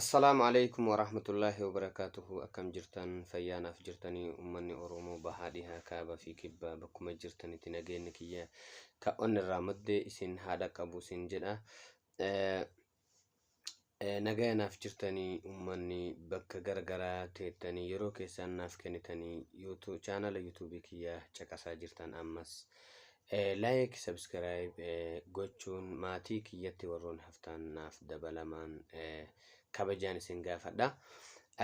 Assalaamu alaikum warahmatullaahi wabarakaatuhu akkam jirtan fayyaanaaf jirtanii ummanni Oromoo bahaa dhihaa kaaba fi kibbaa bakkuma jirtanitti nageenni kiyya ka onnirraa madde isin haa dhaqqabu isin jedha Eh, eh, nagaya naaf jirtanii ummanni bakka garagaraa teettanii yeroo keessaan naaf kennitanii YouTube chaanala yuutuubii kiyya caqasaa jirtan ammas Like subscribe gochuun maatii kiyyatti warroon haftaan naaf dabalamaan kabajaan isin gaafadha.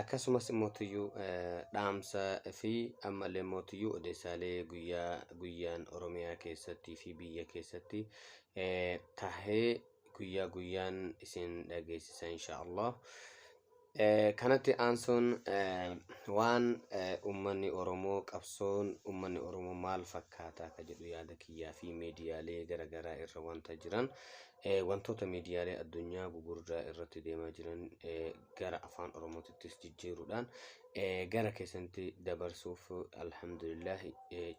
Akkasumas mootiyyuu dhaamsa fi ammallee mootiyyuu odeessaalee guyyaa guyyaan Oromiyaa keessatti fi biyya keessatti tahee guyyaa guyyaan isin dhageessisa inshaallah. Kanatti aansuun waan ummanni Oromoo qabsoon ummanni Oromoo maal fakkaata ka jedhu yaada kiyyaa fi miidiyaalee gara garaa irra wanta jiran wantoota miidiyaalee addunyaa gugurdaa irratti deemaa jiran gara afaan Oromootittis jijjiiruudhaan gara keessanitti dabarsuuf alhamdulillah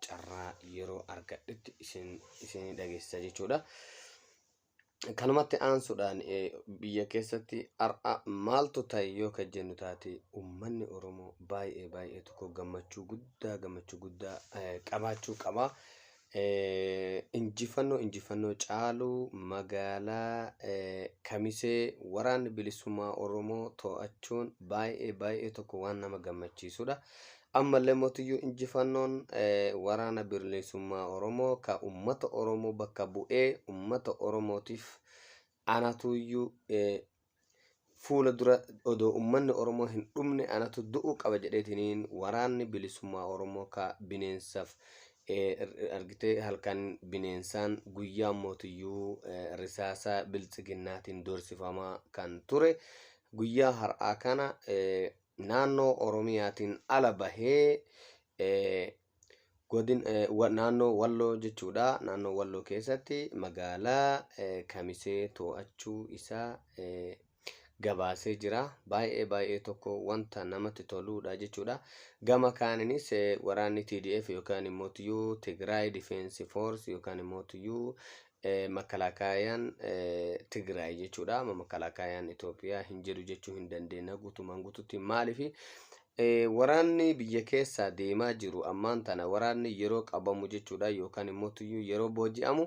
carraa yeroo argadhetti isin isin dhageessisa jechuudha. Kanumatti aansuudhaan biyya keessatti har'a maaltu ta'e yoo kan jennu taate uummanni Oromoo baay'ee baay'ee tokko gammachuu guddaa gammachuu guddaa qabaachuu qaba. Injifannoo injifannoo caalu magaalaa Kamisee waraanni bilisummaa Oromoo to'achuun baay'ee baay'ee tokko waan nama gammachiisudha. Ammallee mootiyyuu injifannoon waraana birliisummaa Oromoo ka ummata Oromoo bakka bu'ee ummata Oromootiif anatuuyyuu fuula dura odoo ummanni Oromoo hin dhumne anatu du'uu qaba jedheetiniin waraanni bilisummaa Oromoo ka bineensaf argitee halkan bineensaan guyyaan mootiyyuu risaasa biltsiginnaatiin doorsifamaa kan ture guyyaa har'aa kana naannoo Oromiyaatiin ala bahee godin naannoo Walloo jechuudha. Naannoo Walloo keessatti magaalaa Kamisee to'achuu isaa gabaasee jira. Baay'ee baay'ee tokko wanta namatti toluudha jechuudha. Gama kaaninis waraanni TDF yookaan immoo Tigraay Difeensi Foors yookaan immoo Makkalaakaayaan Tigraay jechuudha. Amma makkalaakaayaan Itoophiyaa hin jedhu jechuu hin dandeenya guutumaan guututti. Maaliif waraanni biyya keessaa deemaa jiru ammaan tana waraanni yeroo qabamu jechuudha yookaan immoo tuyyuu yeroo booji'amu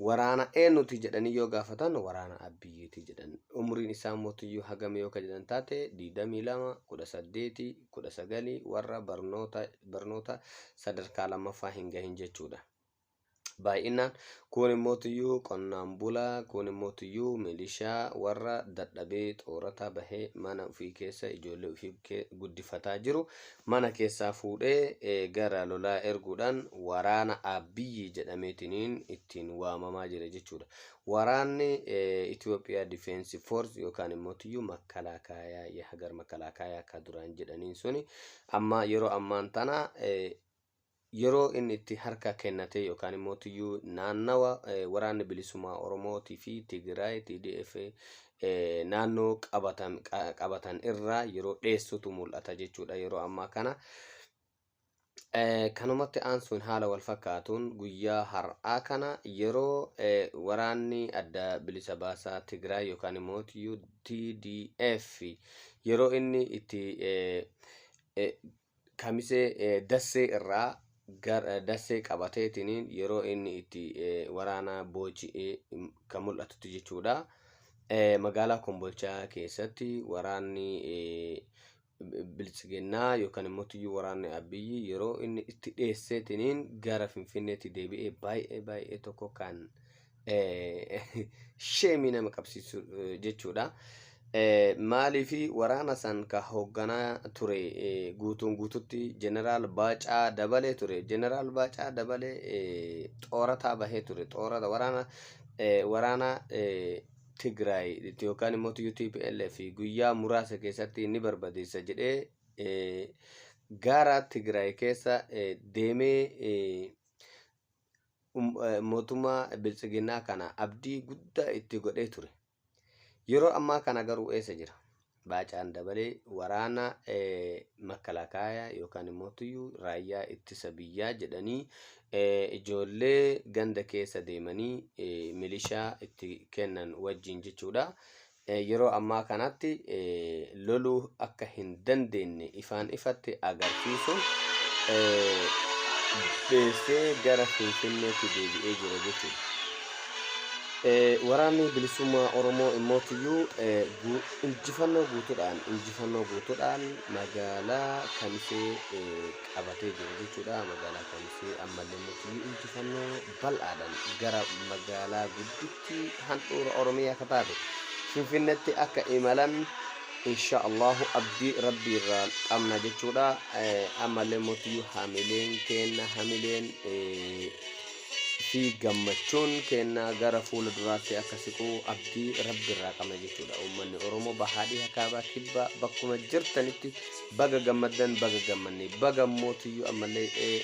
waraana eenyuti jedhanii yoo gaafatan waraana abbiyyiti jedhan. Umriin isaa immoo tuyyuu hagam yoo kan jedhan taate 22, 18, 19 warra barnoota barnoota sadarkaa lammaffaa hin gahin jechuudha. baay'inaan kuun immoo tuyyuu qonnaan bulaa kuun immoo tuyyuu milishaa warra dadhabee xoorata bahee mana ofii keessa ijoollee ofii guddifataa jiru mana keessaa fuudhee gara lolaa erguudhaan waraana abbiyyi jedhameetiniin ittiin waamamaa jira jechuudha. Waraanni Itoophiyaa Difeensi Foorsi yookaan immoo tuyyuu makkalaakaa hagar makkalaakaa akka duraan jedhaniin suni amma yeroo ammaan tana yeroo inni itti harka kennatee yookaan immoo tiyyuu naannawa waraanni bilisummaa Oromootii fi Tigraay TDF naannoo qabatan qabatan irraa yeroo dheessutu mul'ata jechuudha yeroo ammaa kana. Kanumatti aansuun haala wal fakkaatuun guyyaa har'aa kana yeroo waraanni adda bilisa baasaa Tigraay yookaan immoo tiyyuu TDF yeroo inni itti Kamisee Dassee irraa gara Dassee qabateetiniin yeroo inni itti waraana booji'ee kan mul'atutti jechuudha. Magaalaa Kombolchaa keessatti waraanni biltsiginnaa yookaan immoo tuyyuu waraanni Abiyyi yeroo inni itti dheesseetiniin gara Finfinneetti deebi'ee baay'ee baay'ee tokko kan sheemii nama qabsiisu jechuudha. Maaliif waraana san ka hoogganaa ture guutuun guututti jeneraal Baacaa Dabalee ture. Jeneraal Baacaa Dabalee xoorataa bahee ture. Xoorata waraana waraana Tigraay yookaan immoo UTPLF guyyaa muraasa keessatti ni barbadeessa jedhee gaara Tigraay keessa deemee mootummaa biltsiginnaa kana abdii guddaa itti godhee ture. Yeroo ammaa kana garuu eessa jira? Baacaan dabalee waraana makkalaakaayaa yookaan immoo tuyyuu raayyaa ittisa biyyaa jedhanii ijoollee ganda keessa deemanii milishaa itti kennan wajjin jechuudha. yeroo ammaa kanatti loluu akka hin dandeenye ifaan ifatti agarsiisuun beessee gara Finfinneetti deebi'ee jira jechuudha. Waraanni bilisummaa Oromoo immoo tiyyuu injifannoo guutuudhaan injifannoo guutuudhaan magaalaa Kamisee qabatee jira jechuudha. Magaalaa Kamisee ammallee immoo tiyyuu injifannoo bal'aadhaan gara magaalaa guddittii Magaalattii handhuura Oromiyaa akka taate Finfinnetti akka imalan insha Allahu abdii rabbii irraa qabna jechuudha. Ammallee mootii hamileen keenna hamileen fi gammachuun keenna gara fuula duraatti akka siqu abdii rabbi irraa qabna jechuudha. Uummanni Oromoo bahaa dhiha kaabaa kibbaa bakkuma jirtanitti Baga gammaddan baga gammanne baga immoo tuyyuu ammallee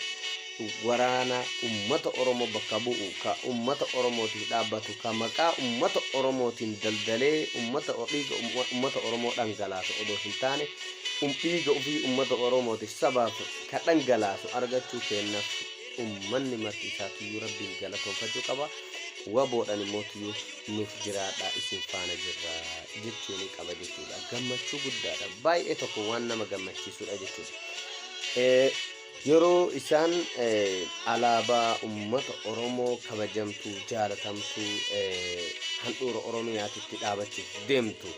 waraana ummata Oromoo bakka bu'u ka ummata Oromootiif dhaabbatu ka maqaa ummata Oromootiin daldalee ummata dhiiga ummata Oromoo dhangalaasu odoo hin taane dhiiga ofii ummata Oromootiif sabaaf ka dhangalaasu argachuu keenyaaf ummanni marti isaa tuyyuu rabbiin galatoonfachuu qaba waboodhaan immoo tuyyuu nuuf jiraadhaa isin faana jirra jechuun qaba jechuudha. Gammachuu guddaadha. Baay'ee tokko waan nama gammachiisudha jechuudha. Eh, Yeroo isaan eh, alaabaa uummata Oromoo kabajamtuu, jaalatamtuu eh, handhuura Oromiyaatitti dhaabachuuf deemtu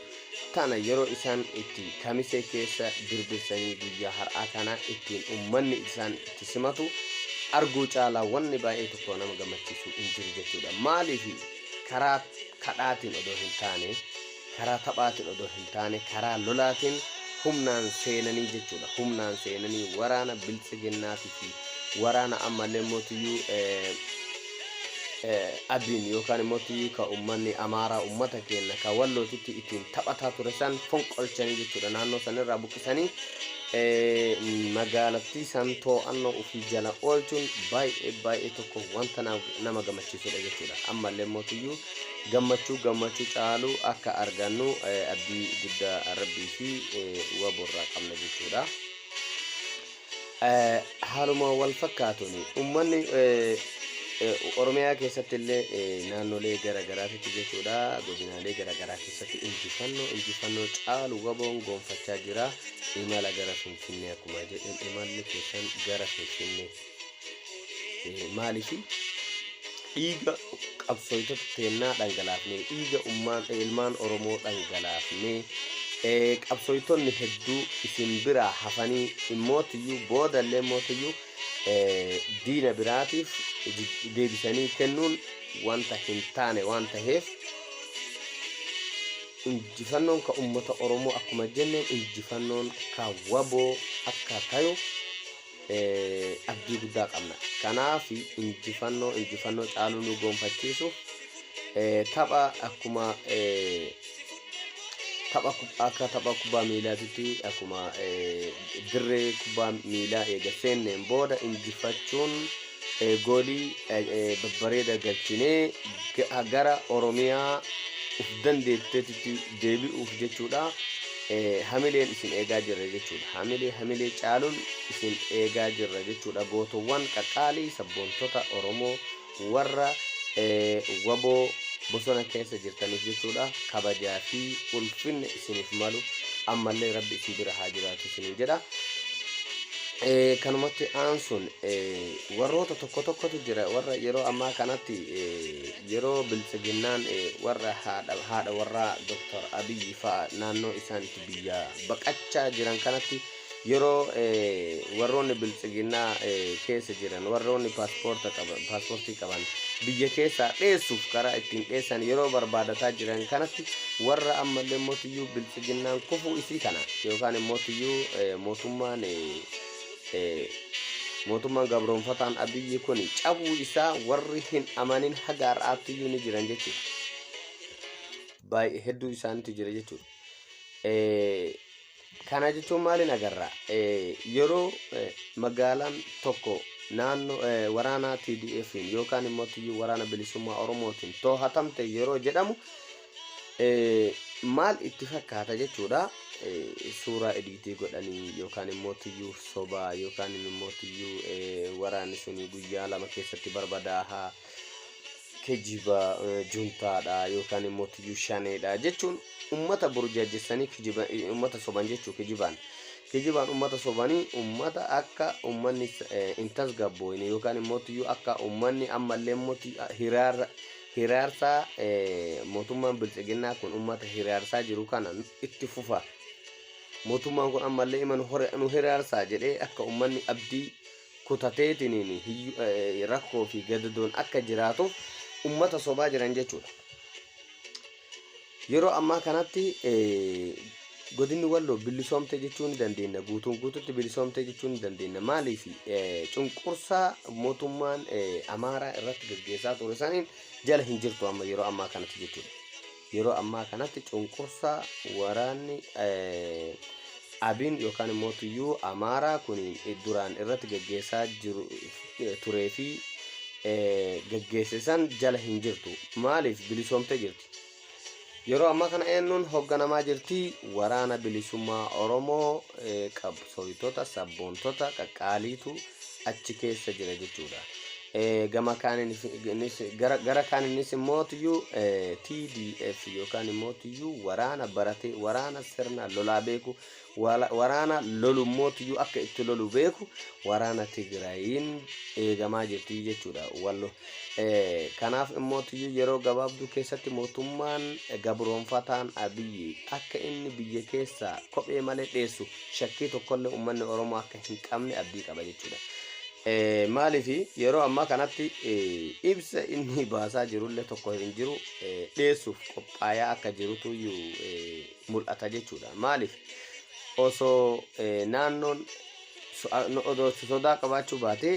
tana yeroo isaan itti kamisee keessa birbirsanii guyyaa har'aa kana ittiin ummanni isaan itti simatu arguu caalaa wanni baay'ee tokko nama gammachiisu hin jiru jechuudha. Maaliif karaa kadhaatiin odoo hin taane, karaa taphaatiin odoo hin taane, karaa lolaatiin humnaan seenanii jechuudha. Humnaan seenanii waraana biltsiginnaatiif waraana ammallee mootiyyuu Abiin yookaan immoo Abiyyii ka ummanni Amaaraa ummata keenna ka Wallootitti ittiin taphataa ture san fonqolchanii jechuudha naannoo san irraa buqqisanii magaalattii san too'annoo ofii jala oolchuun baay'ee baay'ee tokko wanta nama gammachiisudha jechuudha. Ammallee mootiyyuu gammachuu gammachuu caalu akka argannu abdii guddaa rabbii fi waborraa qabna jechuudha. Haaluma walfakkaatuun ummanni Oromiyaa keessatti illee naannolee gara garaatitti jechuudha godinaalee gara garaa keessatti injifannoo injifannoo caalu waboon gonfachaa jira imala gara finfinnee akkuma jedhan imalli keessan gara finfinnee Eh, maalifi dhiiga qabsooytota teennaa dhangalaafnee dhiiga ummaan eh, ilmaan oromoo dhangalaafnee eh, qabsooytonni hedduu isin biraa hafanii immootiyyuu booda illee immootiyyuu eh, diina biraatiif jij- deebisanii kennuun wanta hin taane waan taheef injifannoon ka ummata oromoo akkuma jenneen injifannoon ka waboo akka tayu abdii guddaa qabna. Kanaaf injifannoo injifannoo caaluu nu goonfachiisuuf tapha akkuma tapha akka tapha kubbaa miilaatitti akkuma dirree kubbaa miilaa eega seenneen booda injifachuun goolii babbareeda galchinee gara Oromiyaa uf dandeetteetitti deebi'uuf jechuudha. Hamileen isin eegaa jirra jechuudha. Hamilee hamilee caaluun isin eegaa jirra jechuudha. Gootowwan qaqqaalii sabboontota Oromoo warra waboo bosona keessa jirtaniif jechuudha. Kabajaa fi ulfinna isiniif malu ammallee rabbi isin bira haa jiraatu isiniin jedha. Kanumatti aansuun Warroota tokko tokkotu jira warra yeroo ammaa kanatti yeroo biltsiginnaan warra haadha warraa Dr. Abiyyi fa'a naannoo isaan itti biyyaa baqachaa jiran kanatti yeroo warroonni biltsiginnaa keessa jiran warroonni paaspoortii qaban biyya keessaa dheessuuf karaa ittiin dheessan yeroo barbaadataa jiran kanatti warra ammallee mootiyyuu biltsiginnaan kufuu isii kana yookaan mootiyyuu mootummaan mootummaan gabroonfataan Abiyyi kun cabuu isaa warri hin amanin haga har'aatti iyyuu ni jiran jechuudha. Baay'ee hedduu isaaniitu jira jechuudha. Kana jechuun maaliin agarra? Yeroo magaalaan tokko naannoo waraanaa TDFiin yookaan immoo waraana bilisummaa Oromootiin toohatamte yeroo jedhamu eh, maal itti fakkaata jechuudha eh, suuraa ediitii godhanii yookaan immoo tuyyuu sobaa yookaan immoo tuyyuu eh, waraanni suni guyyaa lama keessatti barbadaaha kijiba eh, juntaadha yookaan immoo tuyyuu shaneedha jechuun ummata burjaajessanii kijiba eh, ummata soban jechuu kijibaan kijibaan ummata sobanii ummata akka ummanni eh, hin tasgabbooyne yookaan immoo tuyyuu akka ummanni ammallee immoo tuyyu- hiraarra Hiraarsaa mootummaan bilxiginnaa kun ummata hiraarsaa jiru kana itti fufa. Mootummaan kun ammallee ima nu hiraarsaa jedhee akka ummanni abdii kutateetiniin rakkoo fi gadadoon akka jiraatuuf ummata sobaa jiran jechuudha. Yeroo ammaa kanatti godinni Walloo bilisoomte jechuu ni dandeenya. Guutuun guututti bilisoomte jechuu ni dandeenya. Maaliif cunqursaa mootummaan Amaaraa irratti gaggeessaa ture saniin jala hin jirtu amma yeroo ammaa kanatti jechuudha. Yeroo ammaa kanatti cunqursaa waraanni abiin yookaan immoo tuyyuu Amaaraa kun duraan irratti gaggeessaa jiru turee fi gaggeesse san jala hin jirtu. Maaliif bilisoomte jirti? Yeroo ammaa kana eenyuun hoogganamaa jirti? Waraana bilisummaa Oromoo eh, qabsooytota, sabboontota, qaqqaaliitu achi keessa jira jechuudha. Eh, Gama kaaniinis innis- gara gara kaaniinis immoo tiyyuu eh, TDF yookaan immoo tiyyuu waraana baratee waraana sirna lolaa beeku waraana lolu mootiyyuu akka itti lolu beeku waraana Tigraayiin eegamaa jirti jechuudha wallo. Kanaaf immootiyyuu yeroo gabaabduu keessatti mootummaan gabroonfataan Abiyyi akka inni biyya keessaa kophee malee dheessu shakkii tokkollee uummanni Oromoo akka hin qabne abdii qaba jechuudha. Maaliif yeroo ammaa kanatti ibsa inni baasaa jirullee tokko hin jiru dheessuuf qophaayaa akka jirutu iyyuu mul'ata jechuudha. Maaliif osoo naannoon odoo sodaa qabaachuu baatee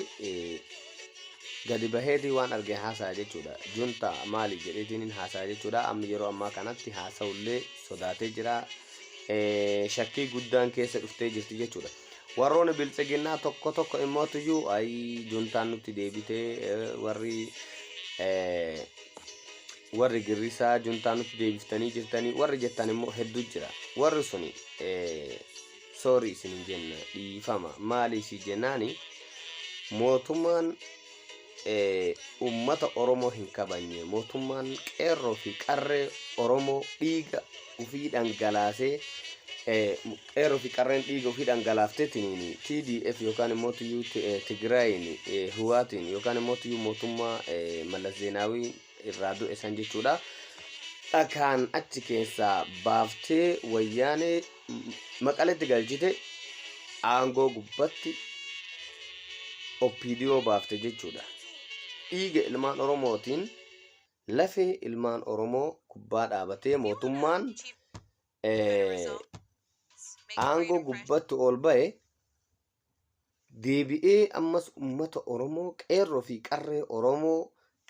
gadi baheetii waan arge haasaya jechuudha. Junta maali jedheetiin hin haasaya jechuudha. Amma yeroo ammaa kanatti haasa'ullee sodaatee jira. Shakkii guddaan keessa dhuftee jirti jechuudha. Warroonni bilxiginnaa tokko tokko immootuyyuu ayi juntaan nutti deebitee warri warri girrisaa juntaa nutti deebiftanii jirtanii warri jettan immoo hedduu jira warri suni soorii isin hin jenna dhiifama maaliif jennaani mootummaan ummata oromoo hin kabanye mootummaan qeerroo fi qarree oromoo dhiiga ufii dhangalaasee qeerroo fi qarreen dhiiga ofii dhangalaaftetiin TDF yookaan immoo tuyyuu Tigraayiin Hiwaatiin yookaan immoo tuyyuu mootummaa Mallas Zeenaawii irraa du'e san jechuudha. Dhakaan achi keessaa baaftee wayyaanee maqaletti galchite aangoo gubbatti OPDO baafte jechuudha. Dhiiga ilmaan Oromootiin lafee ilmaan Oromoo gubbaa dhaabatee mootummaan aangoo gubbatti ol ba'e deebi'ee ammas ummata Oromoo qeerroo fi qarree Oromoo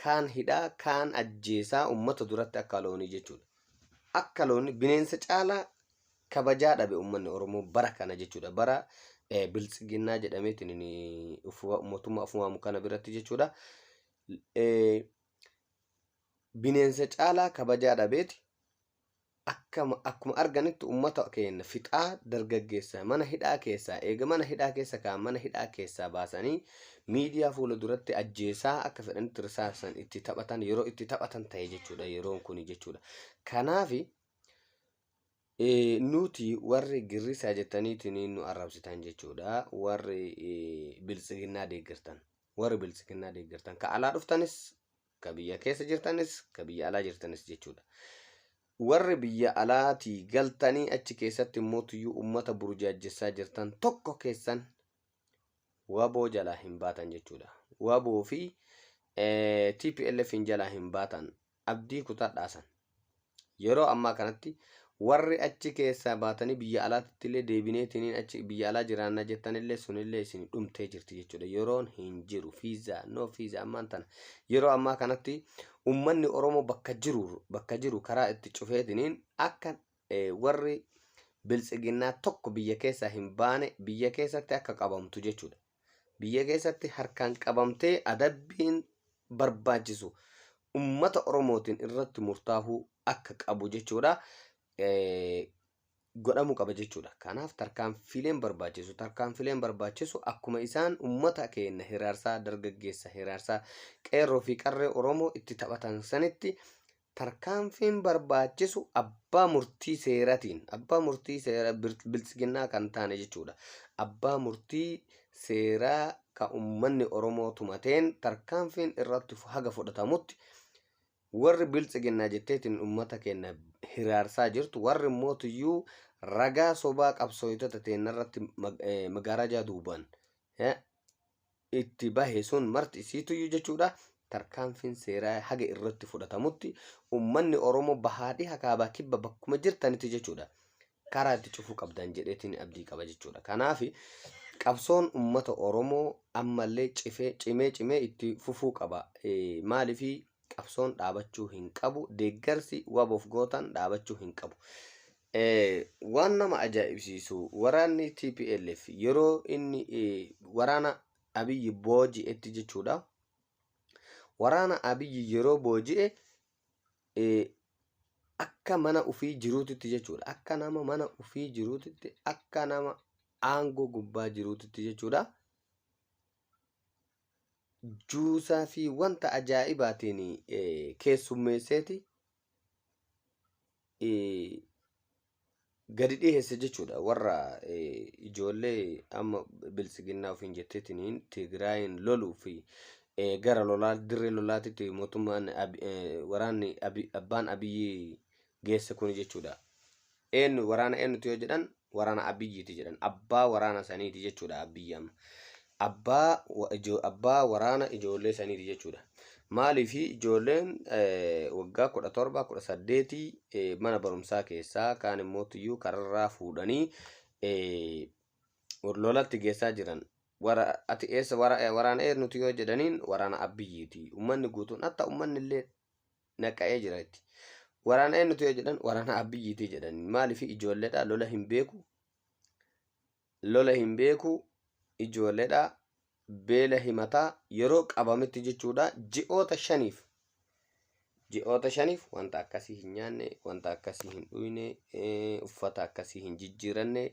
kaan hidhaa kaan ajjeesaa ummata duratti akka loonii jechuudha. Akka loonii bineensa caalaa kabajaa dhabe ummanni Oromoo bara kana jechuudha. Bara biltsiginnaa jedhameetiin mootummaa of waamu kana biratti jechuudha. Bineensa caalaa kabajaa dhabeeti akkama akkuma arganitti ummata keenna fixaa dargaggeessa mana hidhaa keessaa eega mana hidhaa keessa kaan mana hidhaa keessaa baasanii miidiyaa fuula duratti ajjeesaa akka fedhanitti risaasan itti taphatan yeroo itti taphatan ta'e jechuudha yeroon kuni jechuudha kanaafi Eh, nuti warri girrisaa jettaniitiin nu arrabsitan jechuudha warri eh, biltsiginnaa deeggartan warri biltsiginnaa deeggartan ka alaa dhuftanis Ka biyya keessa jirtanis, ka biyya alaa jirtanis jechuudha. Warri biyya alaatii galtanii achi keessatti mootuyyuu ummata burjaajjessaa jirtan tokko keessan waboo jalaa hin baatan jechuudha. Waboo fi eh, TPLFin jalaa hin baatan. Abdii kutadhaasan. Yeroo ammaa kanatti warri achi keessaa baatanii biyya alaatitti illee deebineetiniin achi biyya alaa jiraanna jettan illee sun illee isin dhumtee jirti jechuudha. Yeroon hin jiru fiizaa no fiizaa ammaan tana yeroo ammaa kanatti ummanni Oromoo bakka jiru bakka jiru karaa itti cufeetiniin akka eh, warri biltsiginnaa tokko biyya keessaa hin baane biyya keessatti akka qabamtu jechuudha. Biyya keessatti harkaan qabamtee adabbiin barbaachisu ummata Oromootiin irratti murtaahuu akka qabu jechuudha. godhamu qaba jechuudha. Kanaaf tarkaanfileen barbaachisu tarkaanfileen barbaachisu akkuma isaan ummata keenya hiraarsaa dargaggeessa hiraarsaa qeerroo fi qarree Oromoo itti taphatan sanitti Tarkaanfiin barbaachisu abbaa murtii seeratiin, abbaa murtii seera biltsiginnaa kan taane jechuudha. Abbaa murtii seeraa ka ummanni Oromoo tumateen tarkaanfiin irratti haga fudhatamutti warri biltsiginnaa jetteetiin ummata keenya hiraarsaa jirtu, warri immoo tuyyuu ragaa sobaa qabsooytota teennarratti magaarajaa duubaan itti bahe sun marti isiituyyuu jechuudha tarkaanfiin seeraa haga irratti fudhatamutti ummanni Oromoo bahaa dhiha kaabaa kibba bakkuma jirtanitti jechuudha karaa itti cufuu qabdan jedheetiin abdii qaba jechuudha. Kanaaf qabsoon ummata Oromoo ammallee cifee cimee cimee itti fufuu qaba. Maaliif Qabsoon dhaabachuu hin qabu. Deeggarsi WABOf gootan dhaabachuu hin qabu. Waan nama ajaa'ibsiisu waraanni TPLF yeroo inni waraana Abiyyi booji'etti jechuudha. Waraana Abiyyi yeroo booji'e akka mana ofii jiruutitti jechuudha. Akka nama mana ofii jiruutitti akka nama aangoo gubbaa jiruutitti jechuudha. juusaa fi wanta ajaa'ibaatiin eh, keessummeesseeti eh, gadi dhiheesse jechuudha warra eh, ijoollee amma biltsiginnaa ofiin jetteetiniin Tigraayin loluu fi eh, gara lolaa dirree lolaatitti mootummaan Abi- eh, waraanni Abi- abbaan abiyyi geesse kuni jechuudha. Eenyu waraana eenyutu yoo jedhan waraana Abiyyiiti jedhan. Abbaa waraana saniiti jechuudha Abiyyi amma. Abbaa wa- ijo- abbaa waraana ijoollee saniiti jechuudha. Maaliif ijoolleen eh, waggaa kudha torba kudha saddeetii eh, mana barumsaa keessaa kaan immoo tuyyuu kararraa fuudhanii eh, lolatti geessaa jiran. Wara, ati eessa wara, waraana eenyuti yoo jedhaniin waraana Abiyyiiti. Ummanni guutuun hatta ummanni illee naqa'ee jira itti. Waraana eenyutu yoo jedhan waraana Abiyyiiti jedhan. Maaliif ijoolleedha lola hin beeku. Lola hin beeku ijoolleedha beela himataa yeroo qabametti jechuudha ji'oota shaniif. Ji'oota shaniif wanta akkasii hin nyaanne, wanta akkasii hin dhuyne, eh, uffata akkasii hin jijjiiranne,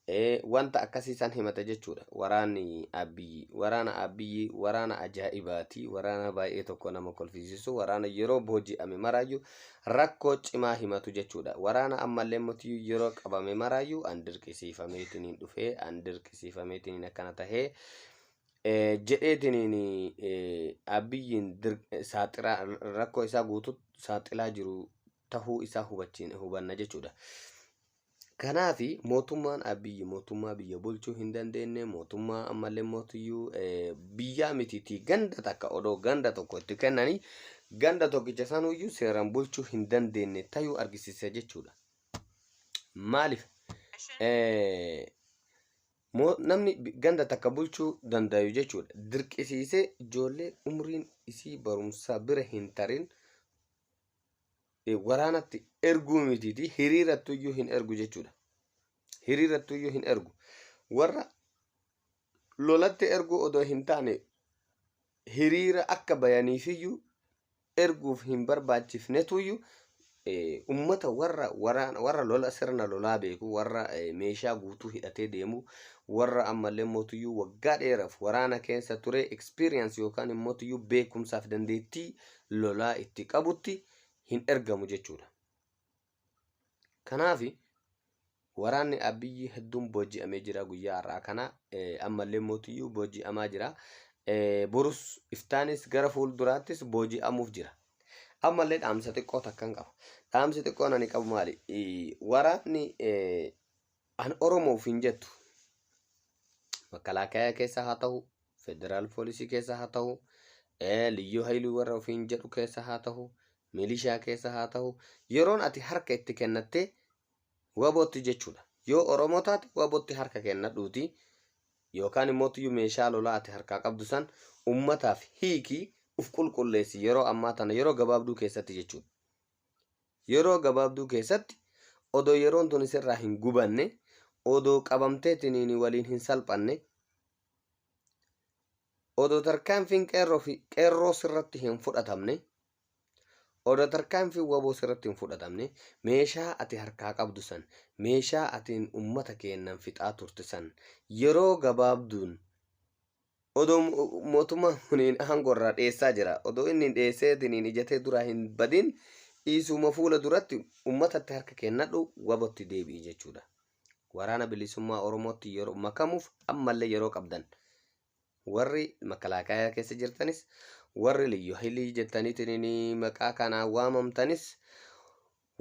Ee, wanta akkasii san himata jechuudha. Waraanni Abbiyyi. Waraana Abbiyyi waraana ajaa'ibaati. Waraana baay'ee tokko nama kolfisiisu. Waraana yeroo booji'ame maraayyuu rakkoo cimaa himatu jechuudha. Waraana ammallee motiyyuu yeroo qabame maraayyuu an dirqisiifameetiniin dhufee, an dirqisiifameetiniin akkana tahee Eh, jedheetiniin eh, Abiyyiin dir- eh, saaxiraa rakkoo isaa guutuu saaxilaa jiru tahuu isaa hubachiin hubanna jechuudha. Kanaaf mootummaan Abiyyi mootummaa biyya bulchuu hin dandeenye mootummaa ammallee mootiyyuu eh, biyyaa mitiitii ganda takka odoo ganda tokko itti kennanii ganda tokkicha sanuyyuu seeraan bulchuu hin dandeenye tayuu argisiisa jechuudha. Maaliif eh, moo- namni bi- ganda takka bulchuu dandayu jechuudha. Dirqisiisee ijoollee umriin isii barumsaa bira hin tarin waraanatti erguu mitiitii hiriirattuyyuu hin ergu jechuudha. Hiriirattuyyuu hin ergu. Warra lolatti erguu odoo hin taane hiriira akka bayaniifiyyuu erguuf hin barbaachifnetuyyuu ummata warra waraana warra lola sirna lolaa beeku warra meeshaa guutuu hidhatee deemu warra ammallee mootuyyuu waggaa dheeraaf waraana keessa ture experience yookaan immoo beekumsaaf dandeettii lolaa itti qabutti hin ergamu jechuudha. Kanaaf waraanni Abiyyi hedduun booji'amee jira guyyaa har'aa kana ammallee mootiyyuu booji'amaa jira. Borus iftaanis gara fuulduraattis booji'amuuf jira. Ammallee dhaamsa xiqqoo takkan qaba. Dhaamsi xiqqoon ani qabu maali? Waraanni An Oromo of hin jettu. Makalaakaya keessa haa tahu, federaal poolisii keessa haa tahu, ee, liyyuu hayiluu warra ofiin jedhu keessa haa tahu, milishaa keessa haa tahu, yeroon ati harka itti kennattee wabootti jechuudha. Yoo Oromoo taate wabootti harka kennadhuuti yookaan immootiyyuu meeshaa lolaa ati harkaa qabdu san ummataaf hiikii uf qulqulleessi yeroo ammaa tana yeroo gabaabduu keessatti jechuudha. Yeroo gabaabduu keessatti odoo yeroon tuni sirraa hin gubanne, odoo qabamtee tiniini waliin hin salphanne, odoo tarkaanfiin qeerroo fi qeerroo sirratti hin fudhatamne, odoo tarkaanfiin waboo sirratti hin fudhatamne, meeshaa ati harkaa qabdu san, meeshaa atiin ummata keennan fixaa turte san yeroo gabaabduun Odoo mootummaan kuniin aangoo irraa dheessaa jira. Odoo inni dheesseetiniin ija tee duraa hin badin dhiisuuma fuula duratti ummatatti harka kennadhu wabotti deebi'i jechuudha. Waraana bilisummaa Oromootti yeroo makamuuf ammallee yeroo qabdan. Warri makalaakaayaa keessa jirtanis warri liyyu hayilii jettaniitiin maqaa kanaan waamamtanis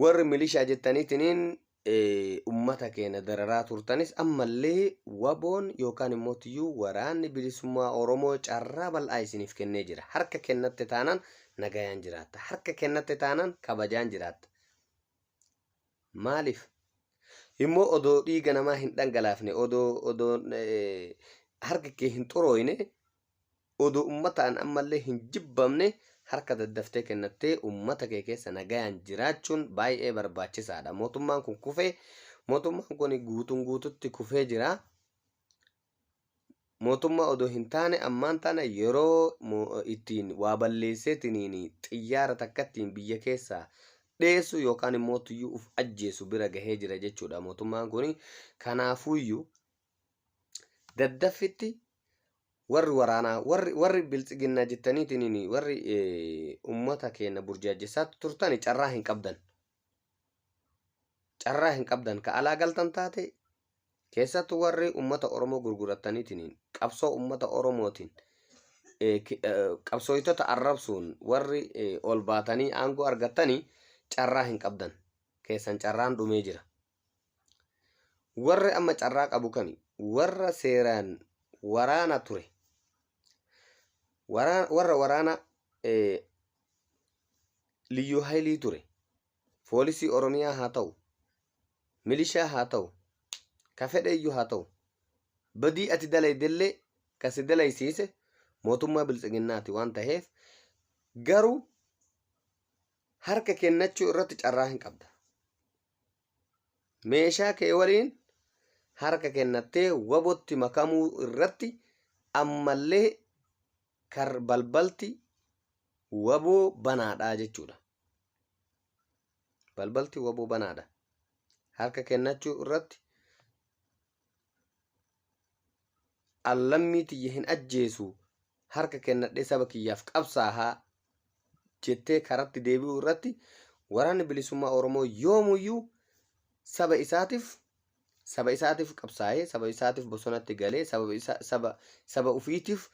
Warri milishaa jettaniitiniin ummata keenya dararaa turtanis ammallee waboon yookaan immoo tiyyuu waraanni bilisummaa Oromoo carraa bal'aa isiniif kennee jira. Harka kennatte taanaan nagayaan jiraatta. Harka kennatte taanaan kabajaan jiraatta. Maaliif? Immoo odoo dhiiga namaa hin dhangalaafne, odoo odoo harki kee hin xurooyne Odoo ummataan ammallee hin jibbamne harka daddaftee kennattee ummata kee keessa nagayaan jiraachuun baay'ee barbaachisaadha. Mootummaan kun kufee mootummaan kun guutuun guututti kufee jira. Mootummaa odoo hin taane ammaan tana yeroo ittiin waa balleesseetiniin xiyyaara takkattiin biyya keessaa dheessu yookaan immoo tuyyuu uf ajjeesu bira gahee jira jechuudha mootummaan kun. Kanaafuyyuu daddaffitti warri waraanaa warri warri biltsiginnaa jettaniitiin warri ummata keenya burjaajjessaa turtan carraa hin qabdan. Carraa hin qabdan ka alaa galtan taate keessattuu warri ummata Oromoo gurgurattaniitiin qabsoo ummata Oromootiin qabsooytota arrabsuun warri ol baatanii aangoo argattanii carraa hin qabdan. Keessan carraan dhumee jira. Warri amma carraa qabu kami? Warra seeraan waraana ture. Waraa- Warra waraana eh, liyyuu haylii ture. Foolisii Oromiyaa haa ta'u, milishaa haa ta'u, ka fedheeyyuu haa ta'u. Badii ati dalaydellee ka si dalaysiise mootummaa biltsiginnaati waan taheef garuu harka kennachuu irratti carraa hin qabda. Meeshaa kee waliin harka kennattee wabotti makamuu irratti ammallee kar balbalti waboo banaadha jechuudha. Balbalti waboo banaadha. Harka kennachuu irratti An lammii tiyya hin ajjeesu, harka kennadhee saba kiyyaaf qabsaaha jettee karatti deebi'uu irratti Waraanni Bilisummaa Oromoo yoomuyyuu saba isaatiif saba isaatiif qabsaa'ee, saba isaatiif bosonatti galee, saba, saba, saba ufiitiif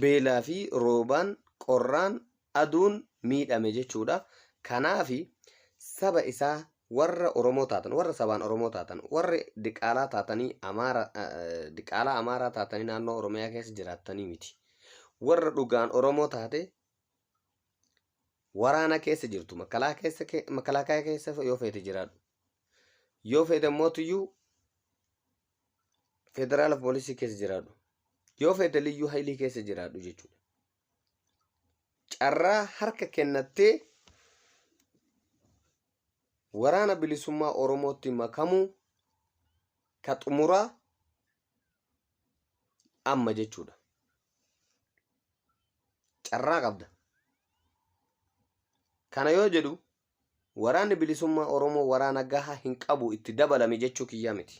beelaa fi roobaan, qorraan, aduun miidhame jechuudha. Kanaaf saba isaa warra Oromoo taatan, warra sabaan Oromoo taatan, warra diqaalaa taatanii Amaara, diqaalaa Amaaraa taatanii naannoo Oromiyaa keessa jiraattanii miti. Warra dhugaan Oromoo taate waraana keessa jirtu, makalaa keessa, makalaakaa keessa yoo feete jiraadhu. Yoo feete mootiyyuu federaala poolisii keessa jiraadhu yoo fedhe liyyuu hailii keessa jiraadhu jechuudha. Carraa harka kennattee waraana bilisummaa Oromootti makamuu ka xumuraa amma jechuudha. Carraa qabda. Kana yoo jedhu Waraanni Bilisummaa Oromoo waraana gahaa hin qabu itti dabalami jechuu kiyyaa miti.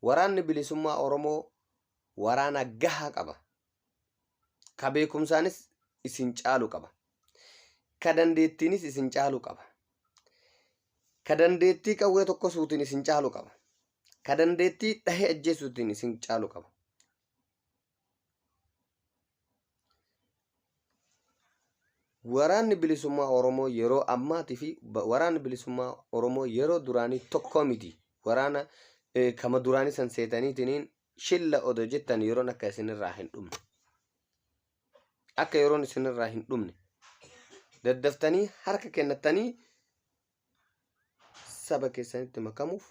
Waraanni Bilisummaa Oromoo waraana gahaa qaba. Ka beekumsaanis isin caalu qaba. Ka dandeettiinis isin caalu qaba. Ka dandeettii qawwee tokko suutiin isin caalu qaba. Ka dandeettii dhahee ajjeesuutiin isin caalu qaba. Waraanni bilisummaa Oromoo yeroo ammaatii fi ba- waraanni bilisummaa Oromoo yeroo duraanii tokko miti. Waraana eh, kama duraanii san seetaniitiin shilla odoo jettan yeroon akka isinirraa hin dhumne. Akka yeroon isinirraa hin dhumne. Daddaftanii harka kennattanii saba keessanitti makamuuf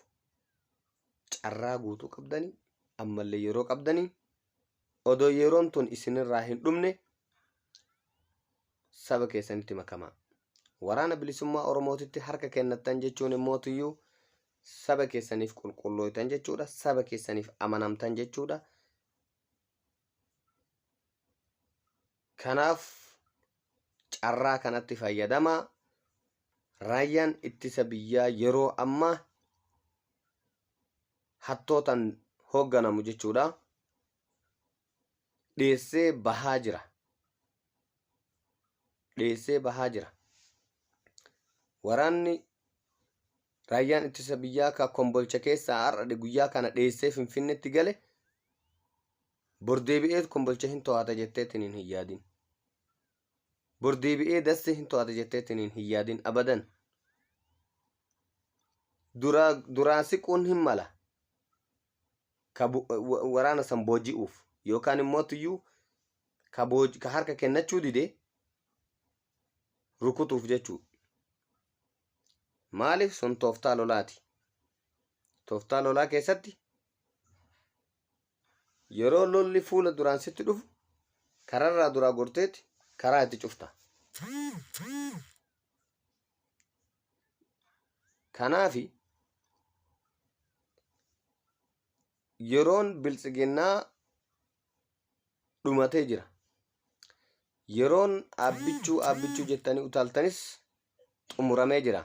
carraa guutuu qabdanii ammallee yeroo qabdanii odoo yeroon tun isinirraa hin dhumne saba keessanitti makamaa. Waraana bilisummaa Oromootitti harka kennattan jechuun immoo tuyyuu saba keessaniif qulqullooytan jechuudha. Saba keessaniif amanamtan jechuudha. Kanaaf carraa kanatti fayyadamaa raayyaan ittisa biyyaa yeroo ammaa hattootan hoogganamu jechuudha dheessee bahaa jira. Dheessee bahaa jira. Waraanni raayyaan ittisa biyyaa ka kombolcha keessaa har'a guyyaa kana dheessee finfinnetti gale Bor deebi'eet kombolcha hin to'ata jetteetiniin hin yaadin. Bor deebi'ee dasse hin to'ata jetteetiniin hin yaadin abadan. Duraa duraa siquun hin mala. Ka bu- wa- waraana san booji'uuf yookaan immoo tuyyuu ka, booj- ka harka kennachuu dide rukutuuf jechuu. Maaliif sun tooftaa lolaati. Tooftaa lolaa keessatti Yeroo lolli fuula duraan sitti dhufu kararraa duraa gorteeti karaa itti cufta. Kanaafi yeroon biltsiginnaa dhumatee jira. Yeroon aabbichuu aabbichuu jettanii utaaltanis xumuramee jira.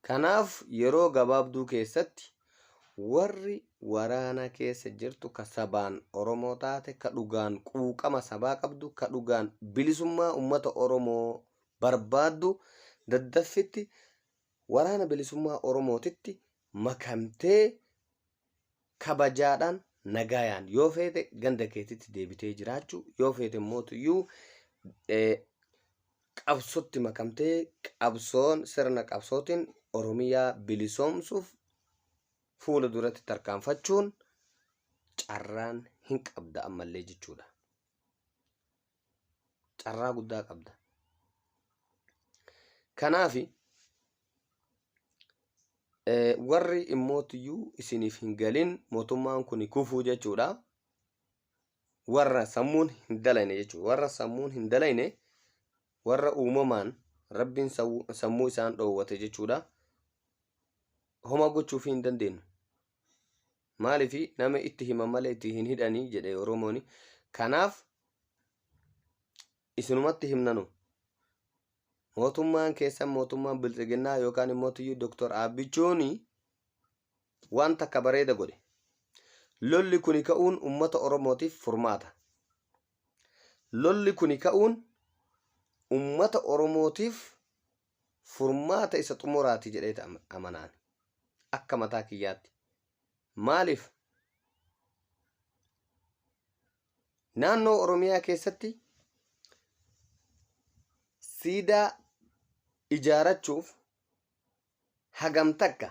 Kanaaf yeroo gabaabduu keessatti warri waraana keessa jirtu ka sabaan Oromoo taate, ka dhugaan quuqama sabaa qabdu, ka dhugaan bilisummaa ummata Oromoo barbaaddu daddaffitti Waraana Bilisummaa Oromootitti makamtee kabajaadhaan nagaayaan yoo feete ganda keetitti deebitee jiraachuu yoo feete mootuyyuu qabsotti makamtee qabsoon sirna qabsootiin Oromiyaa bilisoomsuuf fuula duratti tarkaanfachuun carraan hin qabda ammallee jechuudha. carraa guddaa qabda kanaaf warri immootiyyuu isiniif hin galin mootummaan kun kufuu jechuudha warra sammuun hin dalayne jechuudha warra sammuun hin dalayne warra uumamaan rabbiin sammuu isaan dhoowwate jechuudha homa gochuuf hin dandeenyu Maaliif nama itti himan malee itti hin hidhanii jedhe Oromoon. Kanaaf isinumatti himnanu. Mootummaan keessan mootummaan bilxiginnaa yookaan immoo tiyyuu Dooktor Aabbichuun waan takka bareeda godhe. Lolli kuni ka'uun uummata Oromootiif furmaata. Lolli kuni ka'uun uummata Oromootiif furmaata isa xumuraati jedheeti amanaan akka mataa kiyyaatti maaliif naannoo oromiyaa keessatti siidaa ijaarachuuf hagam takka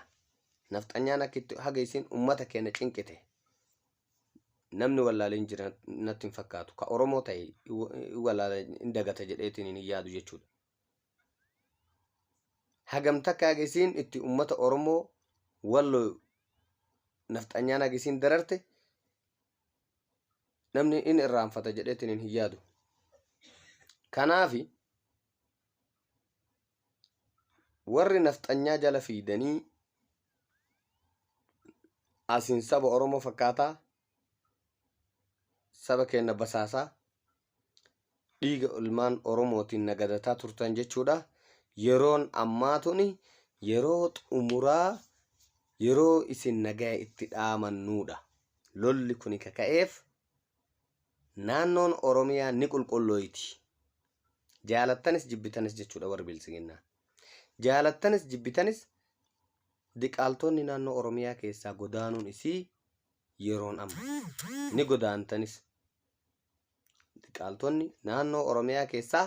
nafxanyaan akka itti haga isin ummata keenya cinqite namni wallaaleen jira natti hin fakkaatu ka oromoo ta'e wallaala hin dagata jedheetiin hin yaadu jechuudha hagam takka haga isiin itti ummata Oromoo wallo nafxanyaan haga isiin dararte namni in irraanfata jedheetiin hin yaadu. Kanaafi warri nafxanyaa jala fiidanii asiin saba Oromoo fakkaataa saba keenna basaasaa dhiiga ilmaan Oromootiin na gadataa turtan jechuudha. Yeroon ammaa tuni yeroo xumuraa yeroo isin nagaya itti dhaamannuudha. Lolli kuni ka ka'eef naannoon Oromiyaa ni qulqullooyti. Jaalattanis jibbitanis jechuudha warri biltsiginnaa. Jaalattanis jibbitanis diqaaltoonni naannoo Oromiyaa keessaa godaanuun isii yeroon amma. Ni godaantanis. Diqaaltonni naannoo Oromiyaa keessaa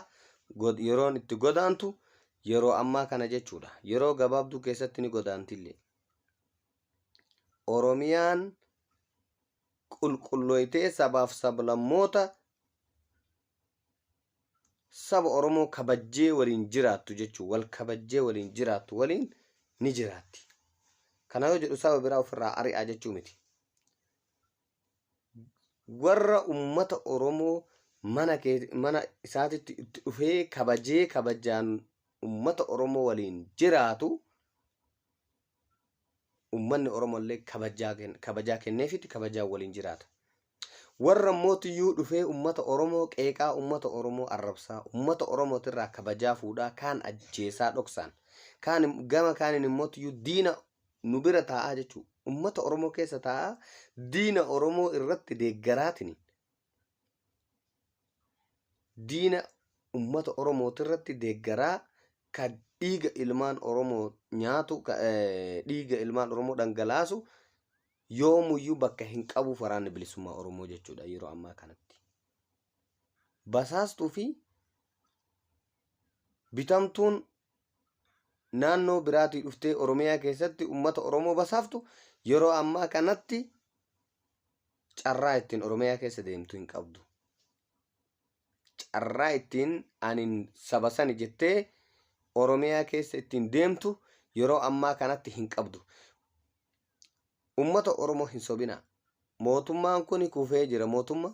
yeroon itti godaantu yeroo ammaa kana jechuudha. Yeroo gabaabduu keessatti ni godaantillee. Oromiyaan qulqullooytee sabaaf sablammoota saba Oromoo kabajjee waliin jiraattu jechuun wal kabajjee waliin jiraattu waliin ni jiraatti. Kana yoo jedhu saba biraa ofirraa ari'aa jechuu miti. warra ummata Oromoo mana kee mana isaatitti itti dhufee kabajee kabajaan ummata Oromoo waliin jiraatu ummanni Oromoo illee kabajaa ken- kabajaa kenneefitti kabajaan waliin jiraata. Warra immoo tiyyuu dhufee ummata Oromoo qeeqaa ummata Oromoo arrabsaa ummata Oromootirraa kabajaa fuudhaa kaan ajjeesaa dhoksaan kaan im- gama kaaniin immoo tiyyuu diina nu bira taa'aa jechuu ummata Oromoo keessa taa'aa diina Oromoo irratti deeggaraatiin diina ummata Oromooti irratti deeggaraa ka dhiiga ilmaan Oromoo nyaatu ka eh, dhiiga ilmaan Oromoo dhangalaasu yoomuyyuu bakka hin qabuuf waraanni bilisummaa Oromoo jechuudha yeroo ammaa kanatti. basaastuu fi bitamtuun naannoo biraatii dhuftee Oromiyaa keessatti uummata Oromoo basaaftu yeroo ammaa kanatti carraa ittiin Oromiyaa keessa deemtu hin qabdu. Carraa ittiin ani saba sani jettee Oromiyaa keessa ittiin deemtu yeroo ammaa kanatti hin qabdu. Uummata Oromoo hin sobinaa. Mootummaan kun kufee jira. Mootummaan